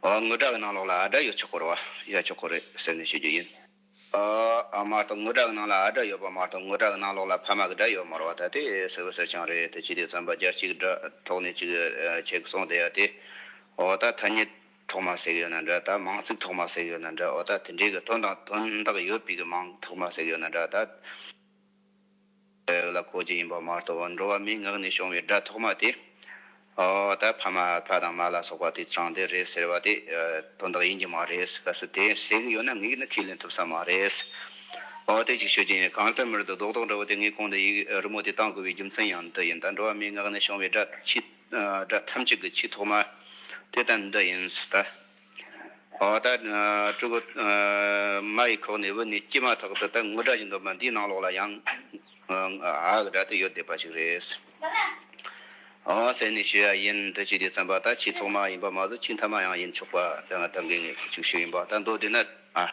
བ། ངུ་སྒྲ་གི་ནང་ལོགས་ལ་ཨ་སྒྲ་ཡོད་ཆོག་ཁོ་རེད་བ། ཡོད་ཆོག་ཁོ་རེད་ཟེར་ནས་ཤོད་རྒྱུ་ཡིན། ཨ་མ་ལྟོ་ངུ་དྲག་སྣང་ལ་ཨ་སྒྲ་ཡོད་པ་མ་གཏོགས་ངུ་དྲག་སྣང་ལོག་ལ་ཕ་མ་གི་སྒྲ་ཡོད་མོར་བ་ད་དེ་ཟེར་བ་ཟེར་ཆང་རེད་དེ་ཅི་དེ་རྩམ་པ་སྦྱར་གཅིག་སྒྲ་ཐོག་ནས་གཅིག་ཆད་གི་སོང་བསྡད་ཡ་དེ་འོ་ད་ཐ་སྙད་ཐོག་མ་ཟེག་ཡོད་ན་འདྲ་ད་མང་ཚིག་ཐོག་མ་ཟེག་ཡོད་ན་འདྲ་འོ་ད་དེ་འདྲའི་གི་དོན་དང་དོན་དག་ཡོད་པའི་གི་མང་ཐོག་མ་ཟེག་ཡོད་ན་འདྲ་ད། བོད་ལ་གོ་རྒྱུ་ཡིན་པ་མ་གཏོགས་འགྲོ་བ་མིའི་ངག་ནས་བྱུང་བའི་སྒྲ་ཐོག་མ་དེ། ཨོ། ད་ཕ་མ་ཕ་དང་མ་ལ་སོགས་པ་དེ་ཚང་དེ་རེད་ཟེར་བ་དེ་དོན་དག་ཡིན་གྱི་མ་རེད་གལ་སྲིད་དེ་ཟེར་གྱི་ཡོད་ན་ངས་ནི་ཁས་ལེན་ཐུབ་ས་མ་རེད། ཨོ་དེ་གཅིག་ཤོད་ཀྱི་ཡིན་གང་ལྟར་མི་རིགས་དོ་བདག་དོག་འདྲ་བོ་དེ་ངའི་ཁོང་དུ་ཡིག་རི་མོ་དེ་བཏང་དགོས་པའི་རྒྱུ་མཚན་ཡང་འདི་ཡིན་ད་འགྲོ་བ་མིའི་ངག་ནས་བྱུང་བའི་སྒྲ་ཕྱི་སྒྲ་ཐམས་ཅད་ཀྱི་ཆེས་ཐོག་མ་དེ་དང་འདི་ཡིན་ཟེར་ལྟ། འོ་ད་སྤྲུལ་སྐུ་མ་ཡི་ཁོག་ནས་འུར་ནས་སྐྱེས་མ་ཐག་ཏུ་ད་ངུ་སྒྲ་བཞིན་དུ་མ་འདིའི་ནང་ལོགས་ལ་ཡང་ཨཱ་གི་སྒྲ་དེ་ཡོད་བསྡད་པ་ཞིག་རེད། འོ་ཟེར་ནས་ཞུས་ཡ་ཡིན་འདི་ཅི་འདྲའི་བཙན་པ་ད་ཆེས་ཐོག་མ་ཡིན་པ་མ་ཟད་ཆེས་མཐའ་མ་ཡང་ཡིན་ཆོག་པ་ད་ང་ད་འགའི་ངས་ཅིག་ཤོས་ཡིན་པ་ད་མདོ་དེ་ན་ཨཱ།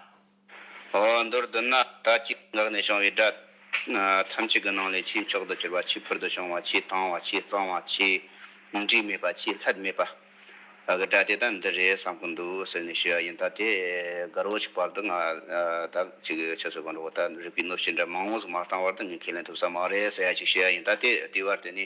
མདོར་བསྡུ་ན་ལྟ་ཅི་འགགས་ནས་བྱུང་བའི་སྒྲ་ཐམས་ཅད་ཀྱི་ནང་ལས་ཆེས་མཆོག་ཏུ་གྱུར་པ་ཆེས་ཕུལ་དུ་བྱུང་བ་ཆེས་དྭངས་བ་ཆེས་གཙང་བ་ཆེས་འདྲིས་མེད་པ་ཆེས་ལྷད་མེད་པ་གི་སྒྲ་དེ་དག་འདི་རེད་བསམ་གྱི་འདུག་ཟེར་ནས་ཞུས་པ་ཡིན་ད་དེ་དགར་བོ་ཞིག་བར་དུ་ང་ད་ཅིག་གི་ཆོས་ཚོགས་གང་དྲུག་བར་དག་རིག་པའི་གནོད་བྱེད་འདྲ་མང་བོ་ཟིག་མ་བཏང་བར་དུ་ཉན་མཁན་ལེན་ཐུབ་ས་མ་རེད་ཟེར་ཡ་ཞིག་ཞུས་ཡ་ཡིན་ད་དེ་དེའི་བར་དུ་ནི།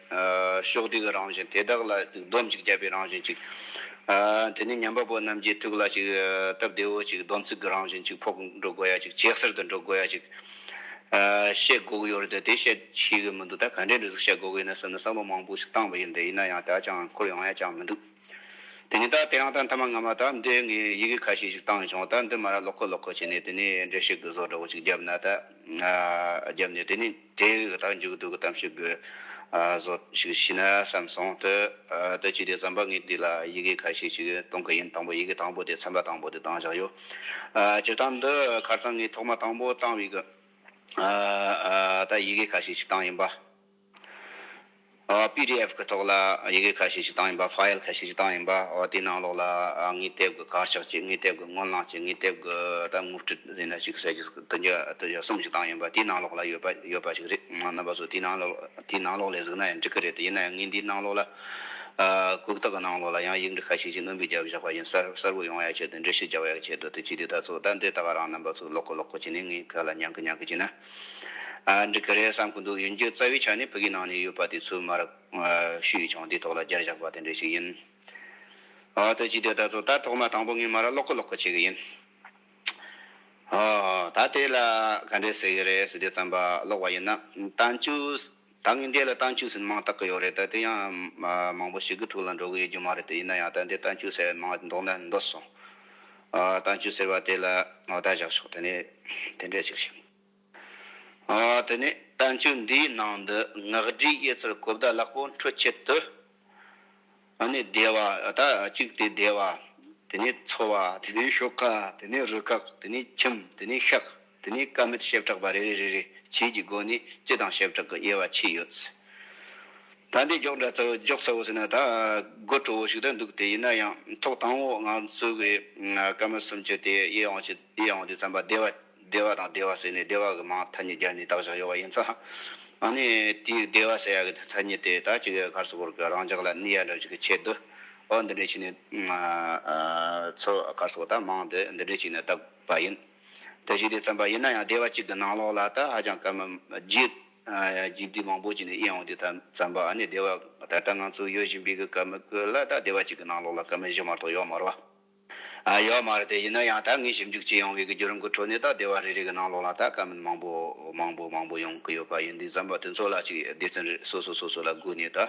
ཕྱོགས་དུས་ཀྱི་རང་བཞིན་དེ་དག་ལ་སྡོམ་ཅིག་བརྒྱབ་པའི་རང་བཞིན་ཅིག། དེ་ནས་ཉམས་པ་པོ་རྣམས་ཀྱིས་ཐུགས་ལ་ཅིག། སྟབས་བདེ་བོ་ཅིག་སྡོམ་ཚིག་གི་རང་བཞིན་ཅིག་ཕོག་འགྲོ་དགོས་ཡ་ཅིག་བྱད་གསེར་དུ་འགྲོ་དགོས་ཡ་ཅིག། བཤད་དགོས་ཀྱི་ཡོད་རེད་དེ་དེ་བཤད་ཤེས་ཀྱི་མི་འདུག་ད་ག་འདྲའི་འདྲི་གཟིགས་བཤད་དགོས་ཀྱི་ཡིན་ན་བསམ་ན་བསམ་བློ་མང་པོ་ཞིག་བཏང་བ་ཡིན་དེ་ཡིན་ན་ཡང་ད་ཅང་འཁོར་ཡོང་ཡ་ཅང་མི་འདུག། དེ་ནས་ད་དེ་རང་ད་མཐའ་མ་སྔ་མ་ད་འདི་ངས་ཡི་གེ་ཁ་ཤས་ཤིག་བཏང་བྱུང་ད་འདི་མ་ར་ལོག་ཁོ་ལོག་ཁོ་བྱས་ནས་དེ་ནས་འདྲེ་ཞིག་གི་བཟོ་འདྲ་བོ་ཅིག་བརྒྱབ་ན་ད་བརྒྱབ་ནས་དེ་ནས་དེ་གི་ད་མཇུག་བསྡུ་གི་གཏམ་ཞིག་གི་བཟོ་ཞིག་བྱས་ན་བསམ་སོང་དུ་དུ་བྱས་ཏེ་བསམ་པ་ངས་འདི་ལ་ཡི་གེ་ཁ་ཤས་ཤིག་གཏོང་གི་ཡིན་དང་པོ་ཡི་གེ་དང་པོ་དེ་ཚན་པ་དང་པོ་དེ་བཏང་བཞག་ཡོད་སྤྱིར་བཏང་འདི་ཁར་ཚང་ངས་ཐོག་མ་དང་པོ་བཏང་བའི་གི་ད་ཡི་གེ་ཁ་ཤས་ཤིག་བཏང་ཡིན་པ། PDF གི་ཐོག་ལ་ཡི་གེ་ཁ་ཤས་ཤིག་བཏང་ཡིན་པ File ཁ་ཤས་ཤིག་བཏང་ཡིན་པ་དེའི་ནང་ལོགས་ལ་དངུལ་དེབ་གི་དཀར་ཆག་ཅིག་དངུལ་དེབ་གི་སྔོན་བླངས་ཅིག་དངུལ་དེབ་གི་ད་དངུལ་བཀྲིས་ཟེར་ན་ཅིག་བསལ་ཅིག་དུ་འགྱུར་གསུམ་ཞིག་བཏང་ཡིན་པ་དེའི་ནང་ལོགས་ལ་ཡོད་པ་ཡོད་པ་ཞིག་རེད་རྣམ་པ་ཚོ་དེའི་ནང་དེའི་ནང་ལོགས་ལས་གཟིགས་ན་ཡང་འགྲིག་གི་རེད་ཡིན་ན་ཡང་ངའི་འདིའི་ནང་ལོགས་ལ་གུག་རྟགས་ཀྱི་ནང་ལོགས་ལ་ཡང་ཡིག་འབྲི་ཁ་ཤས་ཤིག་རྣོན་པོས་བརྒྱབ་བཞག་པ་བཞིན་གསར་གསར་བུ་ཡོང་ཡ་ཆེད་དུ་འབྲི་གཞི་རྒྱག་ཡ་ཆེད་དུ་དེ་གཅིག་དེ་ད་ཚོ་ད་འདི་ད་ག་རང་རྣམ་པ་ཚོ་ལོག་གི་ལོག་གི་བྱས་ནས་ངའི་ཁ་ལ་ཉང་གི་ཉང་གི་བྱས་ན། འགྲིག་གི་རེད་བསམ་གི་འདུག་ཡིན་རྒྱུ་རྩ་བའི་ཆ་ནས་བོད་ཀྱི་ནང་ནས་ཡོད་པ་དེ་ཚོའི་མར་ཤུ་ཡིས་ཀྱང་དེའི་ཐོག་ལ་རྒྱར་བཞག་པ་དེ་འདྲ་ཞིག་ཡིན། ཨོ་ད་ཅི་དེ་ལྟར་ཚོ་ད་ཐོག་མ་དང་པོ་ངས་མར་ཀློག་གི་ཀློག་གི་བྱེད་གི་ཡིན། ཨོ་ད་དེ་ལ་ག་འདྲས་ཟེར་གི་རེད་ཟེར་དུས་བརྩམས་པ་ཀློག་བ་ཡིན་ན། དང་བཅུ། ད་ངས་འདི་ལ་རྟ་མཆུ་ཟེར་མང་བཏགས་ཀྱི་ཡོད་རེད་ད་དེ་ཡང་མང་པོ་ཞིག་གི་ཐུགས་ལ་འགྲོ་གི་ཡོད་རྒྱུ་མ་རེད་དེ་ཡིན་ན་ཡང་ད་འདི་རྟ་མཆུ་ཟེར་བའི་མང་མདོག་ནས་འདོད་སོང། རྟ་མཆུ་ཟེར་བ་དེ་ལ་ངོ་རྟ་བཞག་ཆོག་དེ་ནས་དེ་འདྲས་ཅིག་བྱེད། དེ་ནས་རྟ་མཆུ་འདིའི་ནང་དུ་ངག་སྒྲིག་ཡོད་ཚུལ་གོ་བརྡ་ལག་པོ་འཕྲོད་ཆེད་དུ། ཨ་ནི་བདེ་བ། ད་གཅིག་དེ་བདེ་བ། དེ་ནས་འཚོ་བ། དེ་ནས་ཤོ་ཀ། དེ་ནས་རུ་ཀག། དེ་ནས་ཁྱིམ། དེ་ནས་ཤག། དེ་ནས་ཀ་མིད་ཞེབས་དྲག་པ་རེ་རེ་རེ་རེ་བྱེད་ཀྱི་སྒོ་ནས་སྤྱི་དང་ཞེབས་དྲག་གི་དབྱེ་བ་ཕྱེས་ཡོད། ད་འདི་འཇོག་འདྲ་འཇོག་ཚ་བོ་ཟེར་ན་ད་དགོད་བྲོ་བོ་ཞིག་ཏུ་འདུག་དེ་ཡིན་ན་ཡང་ཐོག་དང་བོ་ང་ཚོ་གི་ཀ་མིད་སུམ་ཅུ་དེ་དབྱེ་འོང་དེ་དབྱེ་འོང་དུས་རྩམ་པ་བདེ་བ། བདེ་བ་དང་བདེ་བ་ཟེར་ནས་བདེ་བ་གི་མང་ཐ་སྙད་སྦྱར་ནས་བཏགས་བཞག་ཡོད་པ་ཡིན་ཙང། ཨ་ནི་དེའི་བདེ་བ་ཟེར་ཡ་གི་ཐ་སྙད་དེ་དག་ཅིག་ག་ས་གོར་གི་རང་ཅག་ལ་ནི་ཡ་འདྲ་ཞིག་གི་ཆེད་དུ། ཨོ་འདི་འདྲའི་ཆེ་ནི། ཚོ་ག་ས་གོ་དག་མང་དུ་འདི་འདྲའི་ཆེད་ནས་བཏགས་པ་ཡིན། དེ་བཞིན་དུ་བརྩམས་པ་ཡིན་ན་ཡང་བདེ་བ་གཅིག་གི་ནང་ལོགས་ལ་དག་ཧ་ཅང་སྐར་མ་རྗེས་བསྡུས་མང་པོ་ཅིག་ནས་དབྱེ་འོང་དུས་ཐ་བརྩམས་པ་ཨ་ནི་བདེ་བ་ད་ལྟ་ང་ཚོ་ཡོད་བཞིན་པའི་གི་སྐར་མ་གི་ལ་དག་བདེ་བ་གཅིག་གི་ནང་ལོགས་ལ་སྐར་མ་བཞི་མ་གཏོགས་ཡོད་མ་རོ། ཡོད་མ་རེད་དེ་ཡིན་ན་ཡང་ད་ངས་ཞིབ་འཇུག་བྱེད་ཡོང་བའི་གི་རྒྱུ་རིམ་གི་ཁྲོད་ནས་ད་སྡེ་བ་རེ་རེ་གི་ནང་ལོགས་ལ་ད་དཀའ་མིན་མང་པོ་མང་པོ་མང་པོ་ཡོང་གི་ཡོད་པ་ཡིན་དུས་བརྩམས་པ་དེ་ཚོ་ལ་ཅིག་སྡེ་ཚན་རེར་སོ་སོ་སོ་སོ་ལ་སྒུག་ནས་ད་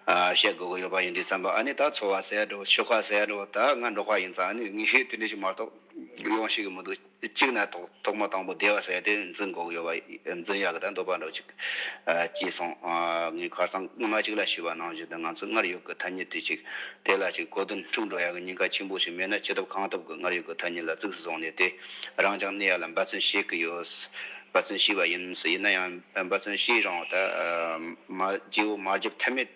བཤད་དགོས་གི་ཡོད་པ་ཡིན་དུས་བརྩམས་པ་ཨ་ནི་ད་འཚོ་བ་ཟད་འགྲོ་ཆོལ་ཁ་ཟད་འགྲོ་ད་ང་འབྲོག་པ་ཡིན་ཙང་ཨ་ནི་ངས་དེ་འདྲ་ཞིག་མ་གཏོགས་ཡོང་ཤེས་གི་མི་འདུག། གཅིག་ན་ཐོག་མ་དང་པོ་བདེ་བ་བསལ་ཏེ་འཛིན་འགོག་ཡོད་པ་འཛིན་ཡག་དང་འདོད་པ་འགྲོ་ཅིག། ཅེས་གསུངས། ངས་ཁར་སང་སྔོན་མ་ཅིག་ལ་ཞུས་པ་ནང་བཞིན་དུ་ང་ཚོས་སྔར་ཡོད་ཀྱི་ཐ་སྙད་དུས་གཅིག་དེ་ལ་ཅིག་གོ་དོན་འཁྲུག་འགྲོ་ཡག་གི་ཉེན་ཁ་ཆེན་པོ་ཞིག་མེད་ན་ཅི་ཐུབ་གང་ཐུབ་ཀྱི་སྔར་ཡོད་ཀྱི་ཐ་སྙད་ལ་གཙིགས་སུ་བཟུང་ནས་དེ་རང་ཅང་གནས་ཡག་ལ་འབའ་ཚུན་ཤེས་ཀྱི་ཡོད། འབའ་ཚུན་ཤེས་པ་ཡིན། ཡིན་ན་ཡང་འབའ་ཚུན་ཤེས་རང་ད་མ་བརྗེའོ་མ་བརྗེ་ཐབས་མེད།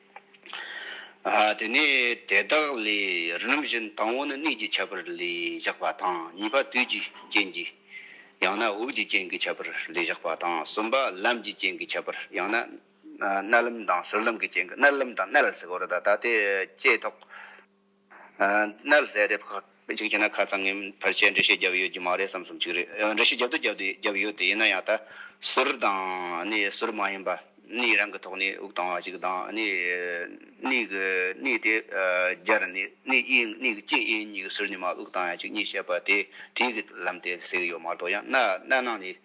དེ་ནས་དེ་དག་ལས་རིམ་བཞིན་དང་བོ་ནི་གནས་ཀྱི་ཁྱད་པར་ལས་བཞག་པ་དང་གཉིས་པ་དུས་ཀྱི་རྐྱེན་གྱིས་ཡང་ན་དབུགས་ཀྱི་རྐྱེན་གྱི་ཁྱད་པར་ལས་བཞག་པ་དང་གསུམ་པ་ལམ་གྱི་རྐྱེན་གྱི་ཁྱད་པར་ཡང་ན་རྣལ་ལམ་དང་ཟུར་ལམ་གྱི་རྐྱེན་གྱི་རྣལ་ལམ་དང་རྣལ་ཟེར་བ་རེ་ད་ལྟ་དེ་བསྐྱེད་དོ། མནར་ཟད་རེད། གཅིག་བྱས་ན་ཁ་ཚང་ངེ་འཕར་ཆེད་འགྲེལ་བཤད་བརྒྱབ་ཡོད་རྒྱུ་མ་རེད་བསམ་བསམ་ཅིག་རེད། འགྲེལ་བཤད་བརྒྱབ་ཏུ་བརྒྱབ་ཏུ་བརྒྱབ་ཡོད་དེ་ཡིན་ན་ཡང་ད། ཟུར་དང། ཟུར་མ་ཡིན་པ། གནས་རང་གི་ཐོག་ནས་དབུགས་བཏང་བ་ཞིག་དང། གནས་གི་གནས་དེ་སྦྱར་ནས་གནས་དབྱེ་གནས་ཀྱི་སྐྱེས་དབྱེ་གཉིས་ཀྱི་ཟུར་ཉི་མ་དབུགས་བཏང་ཡ་ཅིག་གཉིས་བཤད་པ་དེ་དེའི་གི་ལམ་དེ་ཟེར་གི་ཡོད་མ་གཏོགས་ཡང་སྣ་སྣ་ནང་ནས་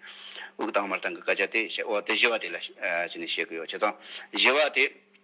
དབུགས་བཏང་མར་བཏང་གི་སྐད་ཆ་དེ་བཤད་འོ་དེ་བཞི་བ་དེ་ལ་བྱས་ནས་བཤད་གི་ཡོད་བྱས་ཙང་བཞི་བ་དེ།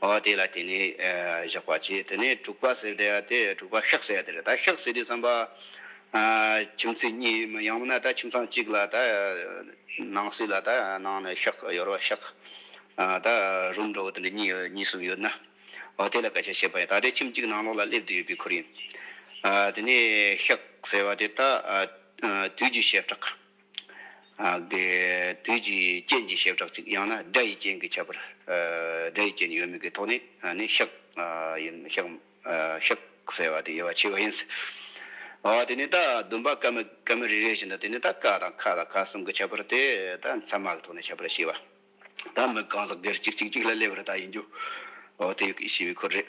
འོ་དེ་ལ་དེ་ནས་བཞག་པ་བྱས་དེ་ནས་དྲུག་པ་ཟེར་དེ་དེ་དྲུག་པ་ཤག་ཟེར་དེར་ད་ཤག་ཟེར་དུས་བསམ་པ། ཁྱིམ་མཚེས་གཉིས་མི་ཡང་མིན་ན་ད་ཁྱིམ་ཚང་གཅིག་ལ་ད་ནང་སྲིད་ལ་ད་ནང་ནས་ཤག་ཡོར་བ་ཤག་ད་རུམ་འགྲོ་བ་དེ་འདྲ་གཉིས་གཉིས་གསུམ་ཡོད་ན། འོ་དེ་ལ་སྐད་ཆ་བཤད་པ་ཡིན་ད་དེ་ཁྱིམ་གཅིག་ནང་ལོགས་ལ་སླེབས་དུས་ཡོད་པའི་ཁུལ་ཡིན། དེ་ནས་ཤག་ཟེར་བ་དེ་ད་དུས་ཀྱི་ཞབས་བྲག། དུས་ཀྱི་རྐྱེན་གྱིས་ཞེས་གྲགས་ཅིག་ཡང་ན་སྒྲ་ཡི་རྐྱེན་གྱིས་ཁྱབ་པར། སྒྲ་ཡི་རྐྱེན་ཡོད་མེད་ཀྱི་ཐོག་ནས་ནི་ཤཱཀ་ཡིན། ཤཱཀ་ཟེར་བ་དེ་དབྱེ་བ་ཕྱེ་བ་ཡིན། དེ་ནས་ད་བདུན་པ་ཀ་མི་ཀ་མི་རེ་རེ་བཞིན་དུ་དེ་ནས་ད་ཀ་དང་ཁ་དང་ཁ་གསུམ་གྱི་ཁྱད་པར་ཏེ་ད་མཚན་མ་གི་ཐོག་ནས་ཁྱད་པར་ཕྱེ་བ། ད་མི་གང་ཟག་སྒེར་གཅིག་གཅིག་གཅིག་ལ་སླེབས་པར་ད་ཡིན་རྒྱུ། དེ་ཡི་ཕྱི་བའི་འཁོར་རེད།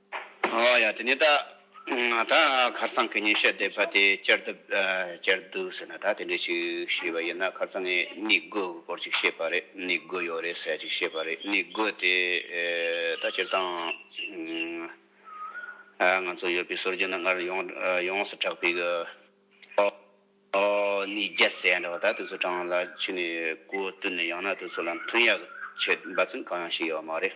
ཡ། དེ་ནས་ད་ད་ཁར་སང་གི་ཉིན་ཤས་བསྡད་པ་དེ་བསྐྱལ་ཐུབ་བསྐྱལ་འདུག་ཟེར་ན་ད་དེ་འདྲས་ཞིག་ཤེས་པ་ཡིན་ན་ཁར་སང་ངས་མིག་དགོས་ཀྱི་སྐོར་ཅིག་བཤད་པ་རེད་མིག་དགོས་ཡོད་རེད་ཟེར་ཅིག་བཤད་པ་རེད་མིག་དགོས་དེ་ད་སྤྱིར་བཏང་ང་ཚོ་ཡོད་པའི་སོར་རྒྱུན་ན་སྔར་ཡོངས་སུ་གྲགས་པའི་གི་ནི་རྒྱ་བཟས་འདྲ་བ་ད་དུས་ཚོད་གྲངས་ལ་ཕྱི་ནས་གོ་བསྟུན་ནས་ཡང་ན་དུས་ཚོད་ལ་མཐུན་ཡག་ཆེད་འབའ་ཚུན་གང་ཡང་ཞིག་ཡོད་མ་རེད།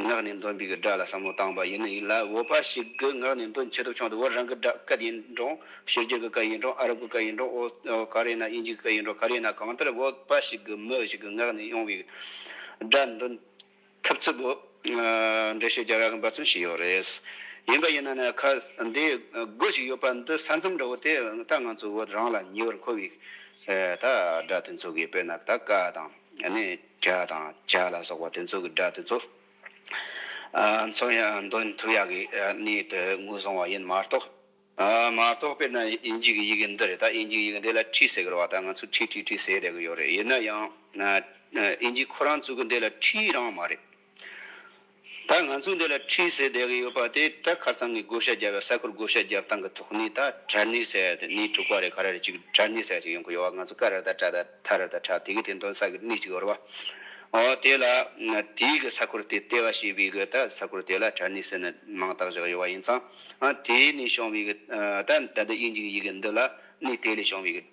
ངག་ནས་འདོན་པའི་སྒྲ་ལ་བསམ་བློ་བཏང་བ་ཡིན་ན་ཡིན་ལ་འོས་པ་ཞིག་གི་ངག་ནས་འདོན་བྱེད་ཐོབ་བྱུང་དུ་བོད་རང་གི་སྒྲ་སྐད་ཡིན་རུང་ཤེས་རྒྱུད་ཀྱི་སྐད་ཡིན་རུང་ཨ་རབ་ཀྱི་སྐད་ཡིན་རུང་འོས་ག་རེ་ན་དབྱིན་ཇིའི་སྐད་ཡིན་རུང་ག་རེ་ན་གང་ལྟར་འོས་པ་ཞིག་གི་མི་ཞིག་གི་ངག་ནས་ཡོང་བའི་སྒྲ་འདོན་ཐུབ་ཚུལ་བོད་འགྲེལ་བཤད་རྒྱ་གར་གྱི་འབའ་ཚུལ་ཞིག་ཡོད་རེད། ཡིན་པ་ཡིན་ན་ནི་ཁ་འདི་དགོས་ཞིག་ཡོད་པ་འདི་ས་མཚམས་འདྲ་བོ་དེ་ད་ང་ཚོ་བོད་རང་ལ་ཉེ་བར་མཁོ་བའི་ད་སྒྲ་དེ་འཚོལ་དགོས་དཔེར་ན་ད་ཀ་དང་ནི། བྱ་དང་བྱ་ལ་སོགས་པ་དེ་ཚོ་གི་སྒྲ་དེ་ཚོ། མཚོན་ཡང་འདོན་ཐུབ་ཡག་གི་གནས་དེ་ངོས་བཟུང་བ་ཡིན་མ་གཏོགས། མ་གཏོགས་དཔེར་ན་དབྱིན་ཇིག་གི་ཡི་གེ་འདི་རེད་ད་དབྱིན་ཇིག་ཡི་གེ་འདི་ལ་ཁྲི་ཟེར་གི་རེད་བ་ད་ང་ཚོས་ཁྲི་ཁྲི་ཁྲི་ཟེར་བསྡད་གི་ཡོད་རེད་ཡིན་ན་ཡང། དབྱིན་ཇིག་ཁོ་རང་ཚོ་གི་འདི་ལ་ཁྲི་རང་མ་རེད། ད་ང་ཚོས་འདི་ལ་འཕྲིན་ཟེར་བསྡད་ཀྱི་ཡོད་པ་དེ་བྲག་ཁར་ཚང་གི་བགོ་བཤའ་རྒྱབ་པའི་ས་ཁུལ་བགོ་བཤའ་རྒྱབ་སྟངས་ཀྱི་ཐོག་ནས་ད་གྲྭ་སྣེ་ཟེར་བ་དེ་སྣེ་དྲུག་པ་རེད་ག་རེ་རེད་ཅིག་གྲྭ་སྣེ་ཟེར་བ་ཞིག་ཡོང་གི་ཡོད་བ་ང་ཚོ་ཀ་རེར་ད་གྲྭ་ད་ཐ་རེར་ད་གྲྭ་དེ་གའི་དེ་མདོན་ས་གི་སྣེ་གཅིག་ཡོད་རེད་བ། འོ་དེ་ལ་དེའི་གི་ས་ཁུལ་དེ་ལྟེ་བ་བྱེད་པའི་གི་ད་ས་ཁུལ་དེ་ལ་གྲྭ་སྣེ་ཟེར་ནས་མིང་བཏགས་བཞག་ཡོད་བ་ཡིན་ཙང། དེའི་ནས་བྱུང་བའི་གི་ད་ད་འདི་དབྱིན་ཇིའི་ཡི་གི་འདི་ལ་སྣེ་དེ་ལས་བྱུང་བའི་གི།